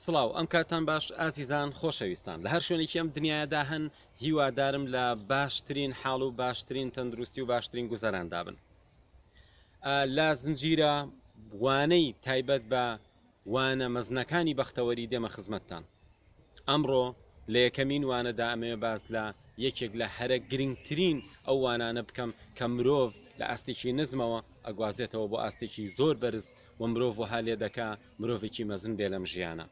سڵاو ئەم کاتان باش ئازیزان خۆشەویستان لە هەر شوێنێکی ئەم دنیایەدا هەن هیوادارم لە باشترین حاڵ و باشترین تەندروستی و باشترین گوزەراندا بن ئا لە زنجیرە وانەی تایبەت بە وانە مەزنەکانی بەختەوەری دێمە خزمەتتان ئەمڕۆ لە یەکەمین وانەدا ئەمەوێ باس لە یەکێک لە هەرە گرنگترین ئەو وانانە بکەم کە مرۆڤ لە ئاستێکی نزمەوە ئەگوازێتەوە بۆ ئاستێکی زۆر بەرز و مرۆڤ وەها لێ دەکا مرۆڤێکی مەزن بێ لەم ژیانە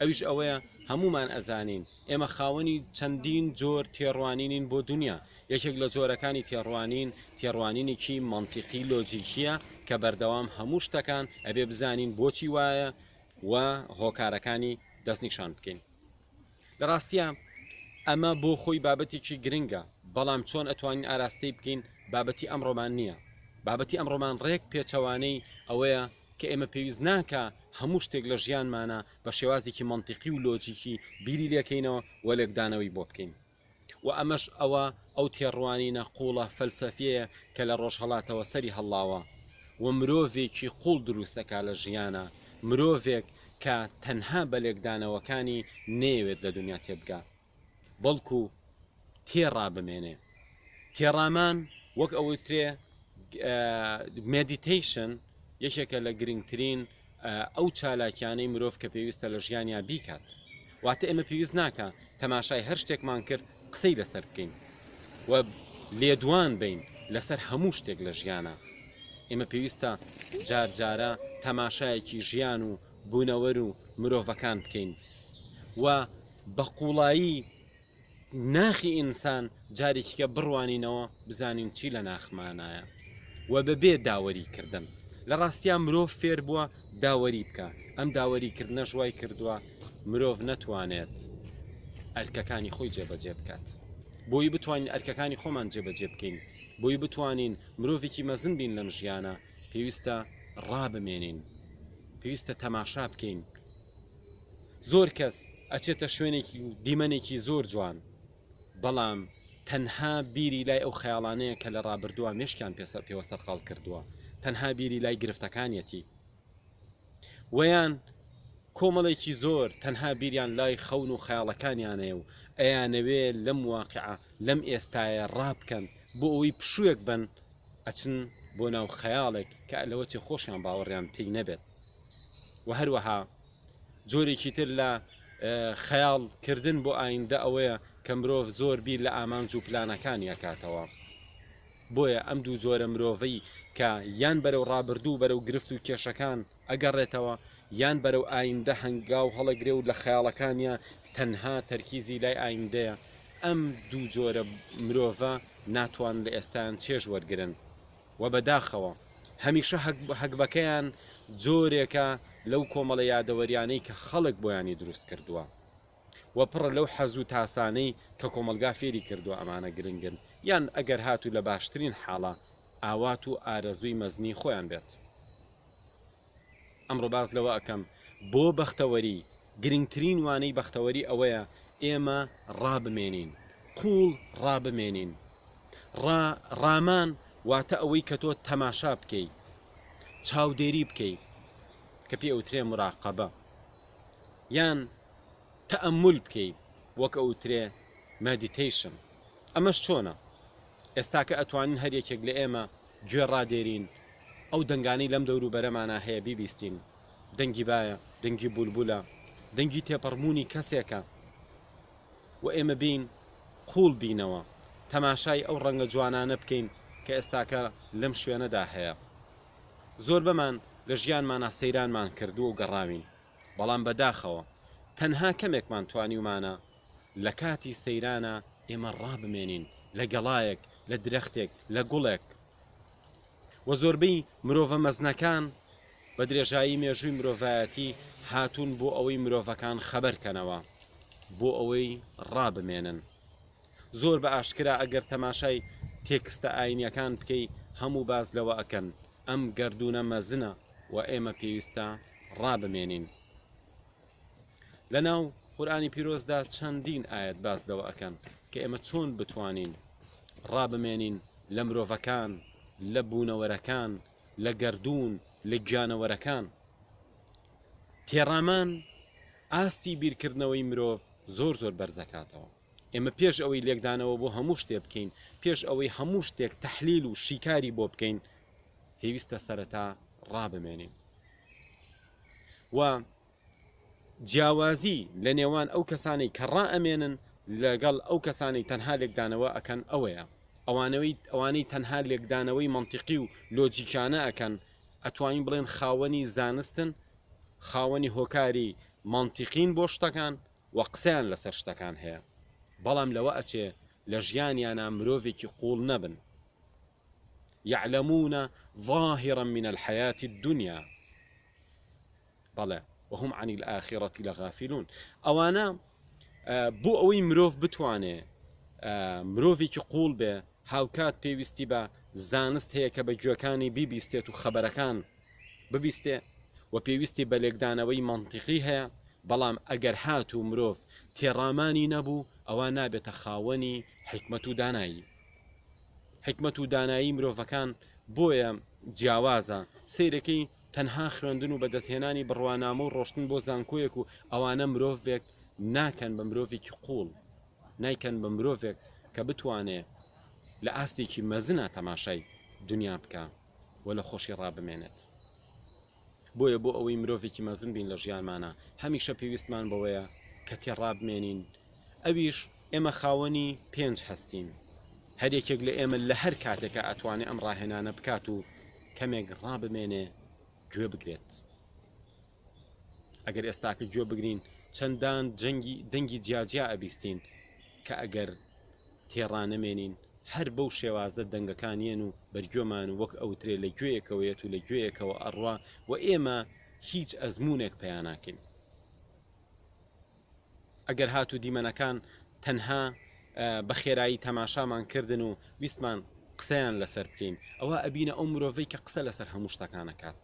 ئەویش ئەوەیە هەموومان ئەزانین ئێمە خاوەنی چەندین جۆر تێڕوانینین بۆ دنیا یەکێک لە جۆرەکانی تێڕوانین تێڕوانینێکی منتیقی لۆجیکیە کە بەردەوام هەموو شتەکان ئەبێ بزانین بۆچی وایە و هۆکارەکانی دەستنیشان بکەین لە ڕاستیا ئەمە بۆ خۆی بابەتێکی گرنگە، بەڵام چۆن ئەتوانین ئاراستەی بکەین بابەتی ئەمڕۆمان نییە. بابەتی ئەمڕۆمان ڕێک پێچەوانەی ئەوەیە کە ئێمە پێویست ناکا هەموو شتێک لە ژیانمانا بە شێوازێکی مەنتیقی و لۆجیکی بیری لێکەینەوە و لێکدانەوەی بۆ بکەین. و ئەمەش ئەوە ئەو تێڕوانینە قووڵە فەلسەفیەیە کە لە ڕۆژهەڵاتەوە سەری هەڵڵاوە و مرۆڤێکی قووڵ دروست دەکات لە ژیانا، مرۆڤێک کە تەنها بە لێکدانەوەکانی نەیەوێت لە دونیا تێبگا بەڵکو تێڕا بمێنێ. تێڕامان وەک ئەوەی وترێ Meditation یەکێکە لە گرنگترین ئەو چالاکیانەی مرۆڤ کە پێویستە لە ژیانیا بیکات واتە ئێمە پێویست ناکە تەماشای هەر شتێکمان کرد قسەی لەسەر بکەین و لێدوان بین لەسەر هەموو شتێک لە ژیانە ئێمە پێویستە جار جارە تەماشایەکی ژیان و بوونەوەر و مرۆڤەکان بکەین و بە قوڵایی ناخی ئینسان جارێکیکە بڕوانینەوە بزانین چی لە ناخمانایە و بەبێ داوەری کردن لە ڕاستیا مرۆڤ فێر بووە داوەری بکە ئەم داوەری کردنەش وای کردووە مرۆڤ نەتوانێت ئەرکەکانی خۆی جێبەجێ بکات بۆی بتوانین ئەرکەکانی خۆمان جێبەجێ بکەین بۆی بتوانین مرۆڤێکی مەزن بین لەم ژیانە پێویستە ڕابمێنین پێویستە تەماشا بکەین زۆر کەس ئەچێتە شوێنێکی و دیمەنێکی زۆر جوان بەڵام تەنها بیری لای ئەو خەیاڵانەیە کە لە ڕابردووە مێشکیان پێسە پێوە سەرقاڵ کردووە تەنها بیری لای گرفتەکانیەتی وەیان کۆمەڵێکی زۆر تەنها بیریان لای خەون و خەیاڵەکانیانەیە و ئەیانەوێ لەم واقعە لەم ئێستاە ڕابکەن بۆ ئەوی پشوویەک بن ئەچن بۆ ناو خەیاڵێک کە لەوەچێ خۆشیان باوەڕیان پێی نەبێت و هەروەها جۆرێکی تر لە خەیاڵ کردن بۆ ئایندە ئەوەیە کە مرۆڤ زۆر بیر لە ئامانج و پلانەکانی ئەکاتەوە بۆیە ئەم دوو جۆرە مرۆڤەی کە یان بەرەو ڕابردوو بەرەو گرفت و کێشەکان ئەگەڕێتەوە یان بەرەو ئایندە هەنگا و هەڵەگرێ و لە خەیاڵەکانە تەنها تەرکیزی لای ئایندەیە ئەم دوو جۆرە مرۆڤە ناتوان لە ئێستان چێژ وەرگن وە بە داخەوە هەمیشە هەگبەکەیان جۆرێکە لەو کۆمەڵە یادەوەریانەی کە خەڵک بۆیانی دروست کردووە وە پڕە لەو حەزوو تاسانەی کە کۆمەڵگا فێری کردووە ئەمانە گرنگن یان ئەگەر هاتوو لە باشترین حاڵە ئاوات و ئارەزووی مەزنی خۆیان بێت. ئەمڕۆ باس لەوە ئەکەم بۆ بەختەوەری گرنگترین وانەی بەختەوەری ئەوەیە ئێمە ڕابمێنین قوڵ ڕابمێنین ڕا ڕامان واتە ئەوەی کە تۆ تەماشا بکەی چاودێری بکەی کە پێ ئەوترێ مراقەبە یان تەمول بکەی وەک ئەوترێ مەدیتەیشن ئەمەش چۆنە ئێستاکە ئەتوانین هەر یەکێک لە ئێمە گوێ ڕادێرین، ئەو دەنگانەی لەم دەورو بەرەمانا هەیە بیبیستین، دەنگی بایە، دەنگی بولبولە، دەنگی تێپەڕبوونی کەسێکە و ئێمە بێین قووڵ بینەوە تەماشای ئەو ڕەنگە جوانانە بکەین کە ئێستاکە لەم شوێنەدا هەیە. زۆربەمان لە ژیانمانا سەیرانمان کردووە و گەڕاوین، بەڵام بەداخەوە تەنها کەمێکمان توانیومانە لە کاتی سەیرانە ئێمە ڕابمێنین لە گەڵایەک، لە درەختێک، لە گوڵێک. وە زۆربەی مرۆڤە مەزنەکان بە درێژایی مێژووی مرۆڤایەتی هاتوون بۆ ئەوەی مرۆڤەکان خەبەر کەنەوە، بۆ ئەوەی ڕابمێنن. زۆر بە ئاشکرا ئەگەر تەماشای تێکستە ئایینیەکان بکەی هەموو باس لەوە ئەکەن ئەم گەردوونە مەزنە و ئێمە پێویستە ڕابمێنین. لەناو قورئانی پیرۆزدا چەندین ئایەت باس لەوە ئەکەن کە ئێمە چۆن بتوانین ڕابمێنین لە مرۆڤەکان لە بوونەوەرەکان لە گەردوون لە گیانەوەرەکان تێڕامان ئاستی بیرکردنەوەی مرۆڤ زۆر زۆر بەرزەکاتەوە ئێمە پێش ئەوەی لێکدانەوە بۆ هەموو شتێ بکەین پێش ئەوەی هەموو شتێک تەحلیل و شیکاری بۆ بکەین پێویستە سەرەتا ڕابمێنین و جیاوازی لە نێوان ئەو کەسانەی کە ڕائەمێنن لەگەڵ ئەو کەسانەی تەنها لێکدانەوە ئەکەن ئەوەیە ئەوانەوەی ئەوانەی تەنها لێکدانەوەی مەنتیقی و لۆجیکانە ئەکەن ئەتوانین بڵێن خاوەنی زانستن خاوەنی هۆکاری مەنتیقین بۆ شتەکان و قسەیان لەسەر شتەکان هەیە بەڵام لەوە ئەچێ لە ژیانیانا مرۆڤێکی قوڵ نەبن يعلمون ظاهرا من الحياة الدنيا بەڵێ، وهم عن الآخرە لغافلون، ئەوانە بۆ ئەوەی مرۆڤ بتوانێ مرۆڤێکی قوڵ بێ هاوکات پێویستی بە زانست هەیە کە بە گوێکانی بیبیستێت و خەبەرەکان ببیستێ و پێویستی بە لێکدانەوەی منطقی هەیە بەڵام ئەگەر هات و مرۆڤ تێڕامانی نەبوو ئەوە نابێتە خاوەنی حکمت و دانایی حکمت و دانایی مرۆڤەکان بۆیە جیاوازە سیرەکەی تەنها خوێندن و بەدەستهێنانی بڕوانامە و ڕۆشتن بۆ زانکۆیەک و ئەوانە مرۆڤێک ناکەن بە مرۆڤێکی قوڵ، نایکەن بە مرۆڤێک کە بتوانێ لە ئاستێکی مەزنا تەماشای دونیا بکا و لە خۆشی ڕابمێنێت. بۆیە بۆ ئەوەی مرۆڤێکی مەزن بین لە ژیانمانا هەمیشە پێویستمان بەوەیە کە تێڕابمێنین ئەویش ئێمە خاوەنی پێنج هەستین، هەر یەکێک لە ئێمە لە هەر کاتێکا ئەتوانێ ئەم ڕاهێنانە بکات و کەمێک ڕابمێنێ گوێ بگرێت. ئەگەر ئێستاکە گوێ بگرین چەندان جەنگی دەنگی جیاجیا ئەبیستین کە ئەگەر تێڕانەمێنین هەر بەو شێوازە دەنگەکان یەن و بەرگوێمان و وەک ئەوترێ لە گوێیەکەوە یەت و لە گوێیەکەوە ئەڕوا و ئێمە هیچ ئەزموونێک پەیا ناکەین. ئەگەر هات و دیمەنەکان تەنها بە خێرایی تەماشامان کردن و ویستمان قسەیان لەسەر بکەین ئەوا ئەبینە ئەو مرۆڤەی کە قسە لەسەر هەموو شتەکان ئەکات.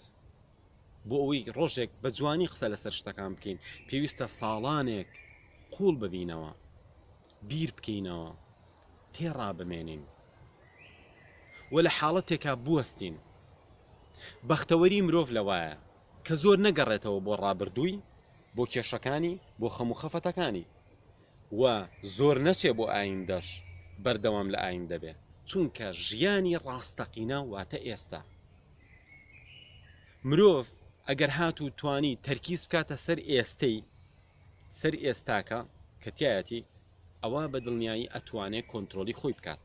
بۆ ئەوەی ڕۆژێک بە جوانی قسە لەسەر شتەکان بکەین پێویستە ساڵانێک قووڵ ببینەوە، بیر بکەینەوە، تێڕا بمێنین و لە حاڵەتێکا بوەستین. بەختەوەری مرۆڤ لەوایە کە زۆر نەگەڕێتەوە بۆ ڕابردووی، بۆ کێشەکانی، بۆ خەم و خەفەتەکانی و زۆر نەچێ بۆ ئایندەش بەردەوام لە ئایندە بێ، چونکە ژیانی ڕاستەقینە واتە ئێستا. مرۆڤ ئەگەر هات و توانی تەرکیز بکاتە سەر ئێستەی، سەر ئێستاکە کە تیایەتی، ئەوا بە دڵنیایی ئەتوانێ کۆنترۆڵی خۆی بکات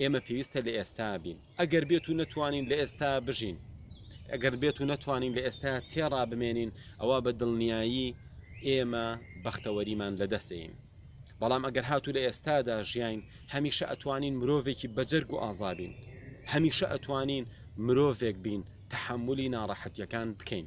ئێمە پێویستە لە ئێستا بین. ئەگەر بێت و نەتوانین لە ئێستا بژین، ئەگەر بێت و نەتوانین لە ئێستا تێڕا بمێنین، ئەوا بە دڵنیایی ئێمە بەختەوەریمان لە دەست ئەین. بەڵام ئەگەر هاتوو لە ئێستادا ژیاین، هەمیشە ئەتوانین مرۆڤێکی بەجەرگ و ئازا بین. هەمیشە ئەتوانین مرۆڤێک بین تەحەمولی ناڕەحەتییەکان بکەین.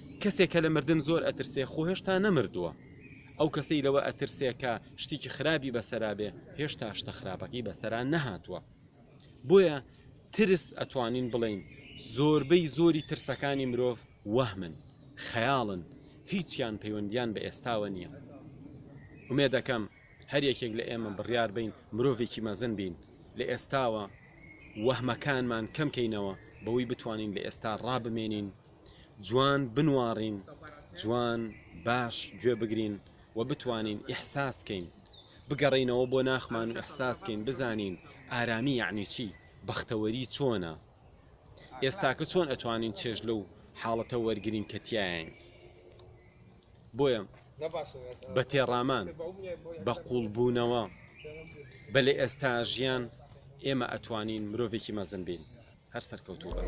کەسێک کە لە مردن زۆر ئەترسێ خۆ هێشتا نەمردووە، ئەو کەسەی لەوە ئەترسێ کە شتێکی خراپی بەسەرا بێ هێشتا شتە خراپەکەی بەسەرا نەهاتووە. بۆیە ترس ئەتوانین بڵێین زۆربەی زۆری ترسەکانی مرۆڤ وەهمن، خەیاڵن، هیچیان پەیوەندیان بە ئێستاوە نییە. ئومێدەکەم هەر یەکێک لە ئێمە بڕیار بین مرۆڤێکی مەزن بین، لە ئێستاوە وەهمەکانمان کەم کەینەوە بەوەی بتوانین لە ئێستا ڕابمێنین، جوان بنواڕین جوان باش گوێ بگرین و بتوانین ئیحساس کەین بگەڕینەوە بۆ ناخمان و ئیحساس کەین بزانین ئارامی یعنی چی بەختەوەری چۆنە ئێستاکە چۆن ئەتوانین چێژ لەو حاڵەتە وەرگین کە تایین بۆیە بە تێڕامان بە قوڵبوونەوە بە لە ئێستا ژیان ئێمە ئەتوانین مرۆڤێکی مەزن بین هەر سەرکەوتوو بن.